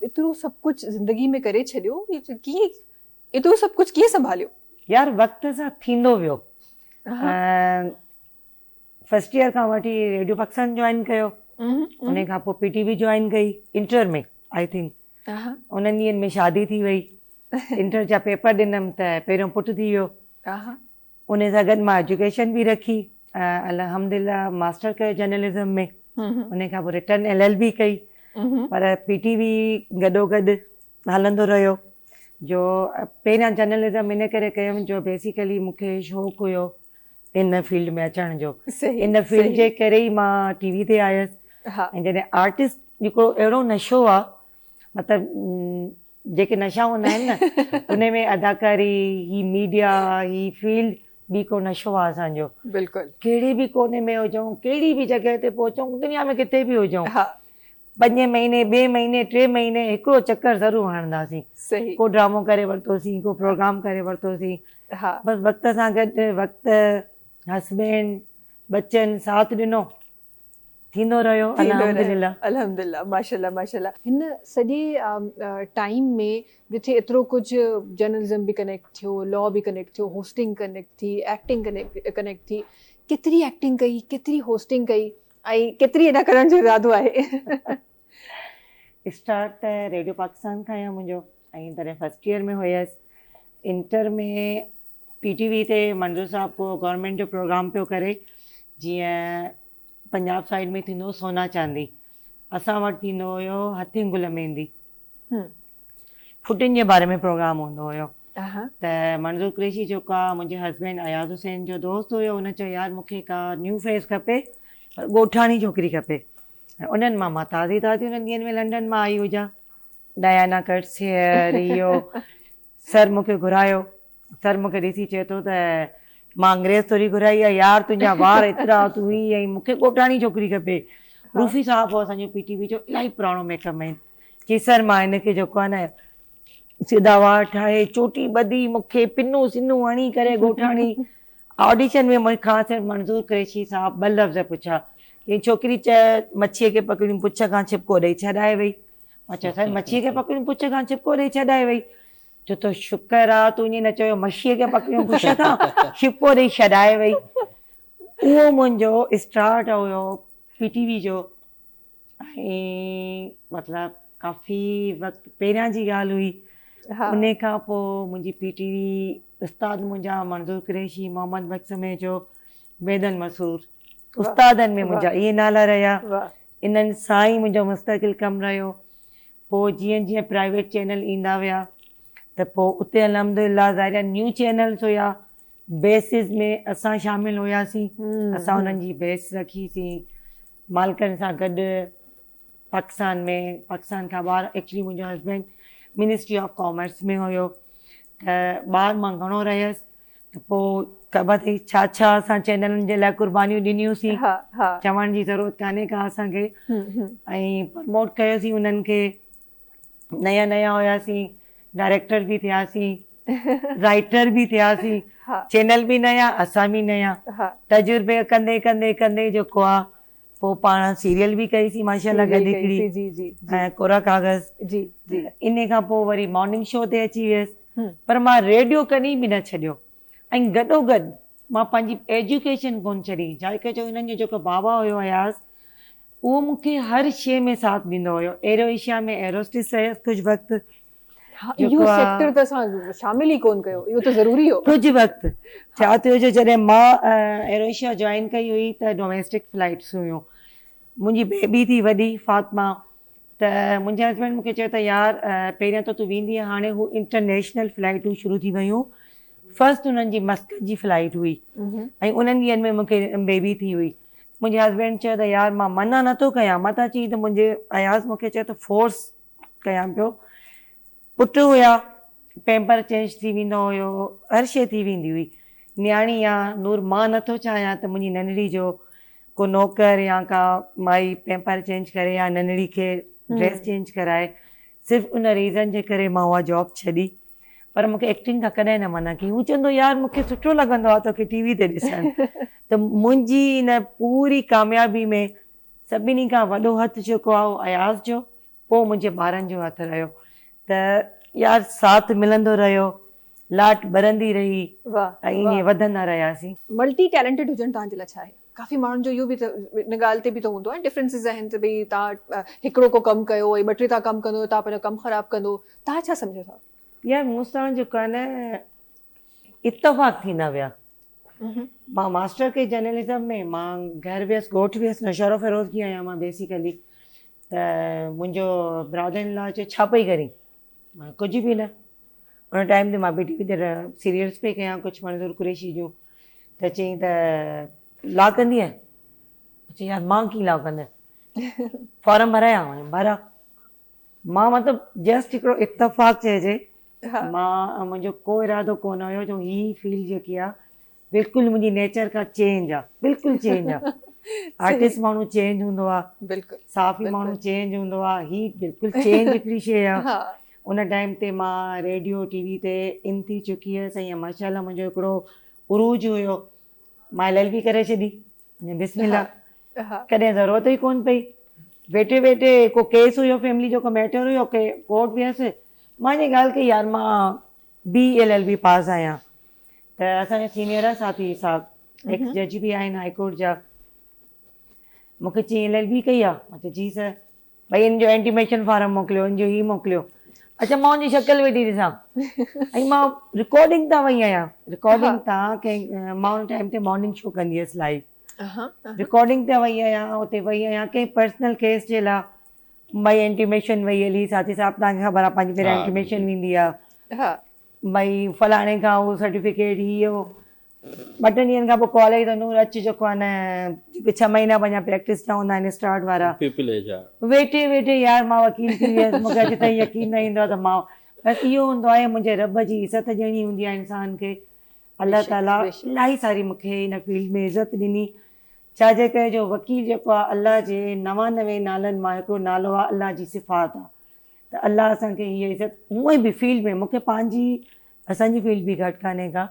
ايترو سڀ ڪجهه زندگي ۾ ڪري ڇڏيو ڪيئن ايترو سڀ ڪجهه ڪيئن سنڀاليو. يار وقت سان ٿيندو ويو فرسٽ ايئر کان وٺي ريڊيو پاڪستان جوائن ڪيو ان کان پوء پي ٽي وي جوائن ڪئي انٽر ۾ آئي ٿنڪ انهن ڏينهن ۾ شادي ٿي وئي انٽر جا پيپر ڏنم ته پهريون پٽ ٿي ويو انهي سان گڏ مان ايجوڪيشن به رکي ۽ الحمدلله ماسٽر ڪيو جرنلزم ۾ انهي کان پوء رٽن ايل ايل بي ڪئي پر پي ٽي وي گڏو گڏ هلندو رهيو جو پهريان جرنلزم ان ڪري ڪيم جو بيسيڪلي مون کي شوق هيو ان فيلڊ ۾ اچڻ جو ان فيلڊ جي ڪري ئي مان ٽي وي تي آيس ۽ جڏهن آرٽسٽ هڪڙو اهڙو نشو آ مطلب جيڪي نشا هوندا آهن نه انهي ۾ اداڪاري هي ميڊيا هي فيلڊ به هڪڙو نشو آهي اسان جو بلڪل ڪهڙي به ڪوني ۾ هجون ڪهڙي به جڳهه تي پهچون دنيا ۾ ڪٿي به هجون پنجين مهيني ٻئي مهيني ٽي مهيني هڪڙو چڪر ضرور هڻنداسين صحيح ڪو ڊرامو ڪري ورتوسين ڪو پروگرام ڪري ورتوسين بس وقت سان گڏ وقت هسبينڊ ٻچن ساٿ ڏنو ٿيندو رهيو الحمدلله. الحمدلله ماشاءالله ماشاءالله. هن سڄي ٽائيم ۾ جتي ايترو ڪجھ جرنلزم به ڪنيڪٽ ٿيو لا به ڪنيڪٽ ٿيو هوسٽنگ ڪنيڪٽ ٿي ايڪٽنگ ڪنيڪٽ ٿي ڪيتري ايڪٽنگ ڪئي ڪيتري هوسٽنگ ڪئي ۽ ڪيتري ادا ڪرڻ جو ارادو آهي اسٽارٽ ته ريڊيو پاڪستان کان هيو منهنجو ۽ تڏهن فرسٽ ايئر ۾ هيس انٽر ۾ پي ٽي وي تي منظور صاحب ڪو گورنمينٽ جو پروگرام پيو ڪري جيئن پنجاب سائيڊ ۾ ٿيندو هو سونا چاندي اسان وٽ ٿيندو هيو هٿين گل ميندي ڦٽين جي باري ۾ پروگرام هوندو هيو ته منظور قريشي جيڪو آهي منهنجي هسبينڊ اياز حسين جو دوست هيو هن چيو يار مون کي ڪا نيو فيس کپي پر ڳوٺاڻي ڇوڪري کپي انهن مان مان تازي تازي انهن ڏينهن ۾ لنڊن مان آئي هجان ڊيانا ڪٽس هيئر اهو سر مون کي گهرايو. سر مون کي ڏسي چئي ٿو ته مان انگريز ٿوري گهرائي آهي. يار تنهنجا وار ايترا، تون هي ۽ مون کي ڳوٺاڻي ڇوڪري کپي. روفي صاحب هو اسان جو پي ٽي وي جو الاهي پراڻو ميڪ مين. چيس سر مان هن کي جيڪو آهي نه سيڌا وار ٺاهي، چوٽي ٻڌي، مون کي پنون سنون هڻي ڪري ڳوٺاڻي آڊيشن ۾ مون کان سر منظور قريشي صاحب ٻه لفظ پڇيا. چيائين ڇوڪري چئه مڇيء کي پڪڙيون پڇ کان ڇپڪو ڏئي ڇڏائي وئي. مڇيء سائين مڇيء کي پڪڙيون پڇ کان ڇپڪو ڏئي ڇڏائي وئي. چو ٿو شڪر آ تون ائين نه چيو مڇيء کي پڪڙيون پڇ کان ڇپڪو ڏئي ڇڏائي وئي. اهو منهنجو اسٽارٽ هيو پي ٽي وي جو ۽ مطلب ڪافي وقت پهريان جي ڳالهه هئي. ان کان پوء منهنجي پي ٽي وي استاد منهنجا منظور قريشي، محمد بخش سميجو، بيدل مسرور استادن ۾ منهنجا اهي نالا رهيا انهن سان ئي منهنجو مستقل ڪم رهيو. پوء جيئن جيئن پرائيويٽ چينل ايندا ويا ته پوء اتي الحمدلله ظاهري نيو چينلز هيا بيسز ۾ اسان شامل هياسين اسان انهن جي بيس رکي سين مالڪن سان گڏ پاڪستان ۾ پاڪستان کان ٻاهر ايڪچلي منهنجو هسبينڊ منسٽري آف ڪامرس ۾ هيو ته ٻاهر مان گهڻو رهيس. ته پوء خبر اٿئي ڇا ڇا اسان چئنلن جي لاء قربانيون ڏنيون سين چوڻ جي ضرورت ڪانهي ڪا اسان کي ۽ پرموٽ ڪيو سين انهن کي نيا نيا هيا سين ڊائريڪٽر به ٿيا سين رائيٽر به ٿيا سين چئنل به نيا اسان به نيا تجربي ڪندي ڪندي ڪندي جيڪو آ پوء پاڻ سيريل به ڪئي سي ماشاء الله گڏ هڪڙي ۽ ڪورا ڪاغذ انهي کان پوء وري مارننگ شو تي اچي ويس پر مان ريڊيو ڪڏهن به نه ڇڏيو ۽ گڏو گڏ مان پنهنجي ايجوڪيشن ڪونه ڇڏي ڇاهي ڪري جو هنن جو جيڪو بابا هيو اياز اهو مون کي هر شيء ۾ ساٿ ڏيندو هيو ايرو ايشيا ۾ ايروسٽس رهيس ڪجهه وقت ها اهو جيڪو آ سيڪٽر ته اسان شامل ئي ڪون ڪيو اهو ته ضروري هو. ڪجهه وقت ڇا ٿيو جو جڏهن مان ايريشيا جوائن ڪئي هئي ته ڊوميسٽڪ فلائٽس هيون منهنجي بيبي ٿي وڏي فاطمه ته منهنجي هسبينڊ مونکي چيو ته يار پهريان ته تون ويندينء هاڻي هو انٽرنيشنل فلائٽون شروع ٿي ويون فرسٽ انهن جي مسقط جي فلائٽ هئي ۽ انهن ڏينهن ۾ مونکي بيبي ٿي هئي منهنجي هسبينڊ چيو ته يار مان منع نٿو ڪيان مان ته چي ته منهنجي اياز مونکي چيو ته فورس ڪيان پيو. پٽ هيا، پيمپر چينج ٿي ويندو هيو، هر شيء ٿي ويندي هئي. نياڻي آ نور مان نه ٿو چاهيان ته منهنجي ننڍڙي جو ڪو نوڪر يا ڪا مائي پيمپر چينج ڪري يا ننڍڙي کي ڊريس چينج ڪرائي. صرف ان ريزن جي ڪري مان اها جاب ڇڏي. پر مون کي ايڪٽنگ کان ڪڏهن نه منع ڪيائين. هو چوندو هو يار مون کي سٺو لڳندو آ توکي ٽي وي تي ڏسڻ. ته منهنجي ان پوري ڪاميابي ۾ سڀني کان وڏو هٿ جيڪو آهي اهو اياز جو پوء منهنجي ٻارن جو هٿ رهيو ته يار ساٿ ملندو رهيو لاٽ ٻرندي رهي ۽ ائين وڌندا رهياسين. ملٽي ٽيلنٽيڊ هجڻ تهان جي لاء ڇا آهي؟ ڪافي ماڻهن جو اهو به ان ڳالهه تي به ته هوندو آهي ڊفرنسز آهن ته ڀئي تهان هڪڙو ڪو ڪم ڪيو ۽ ٻه ٽي تهان ڪم ڪندو ته تهان پنهنجو ڪم خراب ڪندو تهان ڇا سمجهو ٿا؟ يار مون سان جيڪو آهي نه اتفاق ٿيندا ويا. مان ماسٽر ڪئي جرنلزم ۾ مان گهر ويس ڳوٺ ويس نوشهرو فيروزگي آهيان مان بيسيڪلي ته منهنجو براڌر ان لا چيو ڇا پئي ڪرين مان ڪجهه به نه ان ٽائيم تي مان بي ٽي وي تي سيريلس پئي ڪيان ڪجهه منظور قريشي جون ته چيائين ته لا ڪندينء چيائين يار مان ڪيئن لا ڪندس فارم ڀرايان ڀرا مان مطلب جسٽ هڪڙو اتفاق چئجي مان منهنجو ڪو ارادو ڪونه هيو جو هي فيلڊ جيڪي آ بلڪل منهنجي نيچر کان چينج آ بلڪل چينج آ آرٽسٽ ماڻهو چينج هوندو آ صحافي ماڻهو چينج هوندو آ هي بلڪل چينج هڪڙي شيء آ ان ٽائيم تي مان ريڊيو ٽي وي تي ان ٿي چڪي هيس ۽ ماشاء الله منهنجو هڪڙو عروج هيو مائي للبي ڪري ڇڏي بسم الله ڪڏهن ضرورت ئي ڪون پئي ويٺي ويٺي ڪو ڪيس هيو فيملي جو ڪو ميٽر هيو ڪي ڪورٽ ويس مان جي ڳالهه ڪئي يار مان B L L B pass آهيان ته اسان جا سينيئر آهن ساٿي صاحب ايڪس جج به آهن هاء ڪورٽ جا مونکي چي ايل ايل بي ڪئي آهي مان چيو جي سر ڀئي ان جو انٽيميشن فارم موڪليو ان جو هي موڪليو اچا مان ان جي شڪل ويٺي ڏسان ۽ مان رڪارڊنگ تان وئي آهيان رڪارڊنگ تان ڪنهن مان ان ٽائيم تي مارننگ شو ڪندي هيس لائيو رڪارڊنگ تان وئي آهيان اتي وئي آهيان ڪنهن پرسنل ڪيس جي لاء ڀئي انٽيميشن وئي هلي ساٿي صاحب تانکي خبر آهي پنهنجي پهريان انٽيميشن ويندي آهي ڀئي فلاڻي کان هو سرٽيفڪيٽ هي هو ٻه ٽن ڏينهن کان پوء ڪال آئي ته نور اچ جيڪو آهي نه جيڪي ڇهه مهينا پنهنجا پريڪٽس جا هوندا آهن اسٽارٽ وارا ويٺي ويٺي يار مان وڪيل ٿي ويس مون کي اڄ تائين يقين نه ايندو آهي ته مان بس اهو هوندو آهي منهنجي رب جي عزت ڏيڻي هوندي آهي انسان کي الله تعاليٰ الاهي ساري مون کي ان فيلڊ ۾ عزت ڏني ڇا جي ڪري جو وڪيل جيڪو آهي الله جي نوانوي نالن مان هڪڙو نالو آهي الله جي صفات آهي ته الله اسان کي هيء عزت هونئن به فيلڊ ۾ مونکي پنهنجي اسان جي فيلڊ به گهٽ ڪانهي ڪا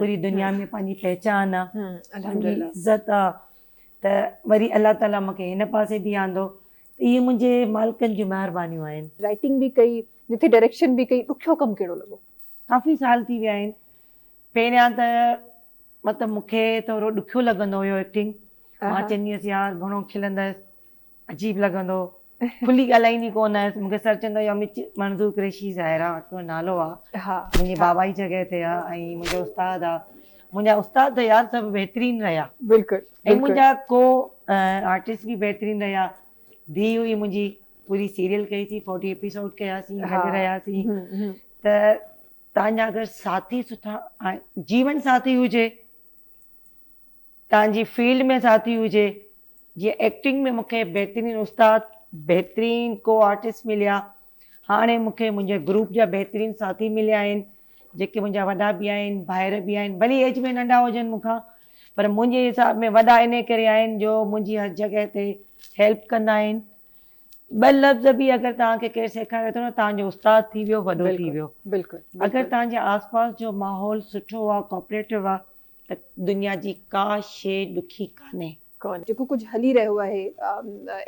پوري دنيا ۾ پنهنجي پهچان آهي عزت آهي ته وري الله تعاليٰ مونکي هن پاسي به آندو ته اهي منهنجي مالڪن جون مهربانيون آهن. رائٽنگ به ڪئي جتي ڊائريڪشن به ڪئي ڏکيو ڪم ڪهڙو لڳو؟ ڪافي سال ٿي ويا آهن پهريان ته مطلب مونکي ٿورو ڏکيو لڳندو هيو ايڪٽنگ مان چوندي هيس يار گهڻو کلندس عجيب لڳندو کلي ڳالهائيندي ڪو نه هيس مونکي سر چوندو يا مچ منظور قريشي ظاهرا تنهنجو نالو آ منهنجي بابا جي جڳهه تي آ ۽ منهنجو استاد آ منهنجا استاد ته يار سڀ بهترين رهيا بلڪل ۽ منهنجا ڪو آرٽسٽ به بهترين رهيا ڌي هئي منهنجي پوري سيريل ڪئي سي فورٽي ايپيسوڊ ڪيا سي گڏ رهيا سي ته تنهنجا اگر ساٿي سٺا جيون ساٿي هجي تنهنجي فيلڊ ۾ ساٿي هجي جيئن ايڪٽنگ ۾ مونکي بهترين استاد بهترين ڪو آرٽسٽ مليا هاڻي مونکي منهنجي گروپ جا بهترين ساٿي مليا آهن جيڪي منهنجا وڏا به آهن ڀائر به آهن ڀلي ايج ۾ ننڍا هجن مونکان پر منهنجي حساب ۾ وڏا انهي ڪري آهن جو منهنجي هر جڳهه تي هيلپ ڪندا آهن ٻه لفظ به اگر توهان کي ڪير سيکاري ٿو نه توهان جو استاد ٿي ويو وڏو ٿي ويو اگر توهان جي آس پاس جو ماحول سٺو آهي ڪوپريٽو آهي ته دنيا جي ڪا شي ڏکي ڪانهي. جيڪو ڪجهه هلي رهيو آهي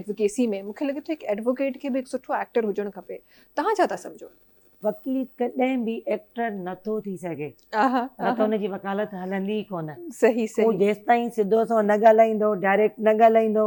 ايڊوڪيسي ۾ مون کي لڳي ٿو هڪ ايڊووڪيٽ کي به هڪ سٺو ايڪٽر هجڻ کپي توهان ڇا ٿا سمجهو؟ وڪيل ڪڏهن به ايڪٽر نه ٿو ٿي سگهي نه ته ان جي وڪالت هلندي ئي ڪونه هو جيستائين سڌو سنئون نه ڳالهائيندو ڊائريڪٽ نه ڳالهائيندو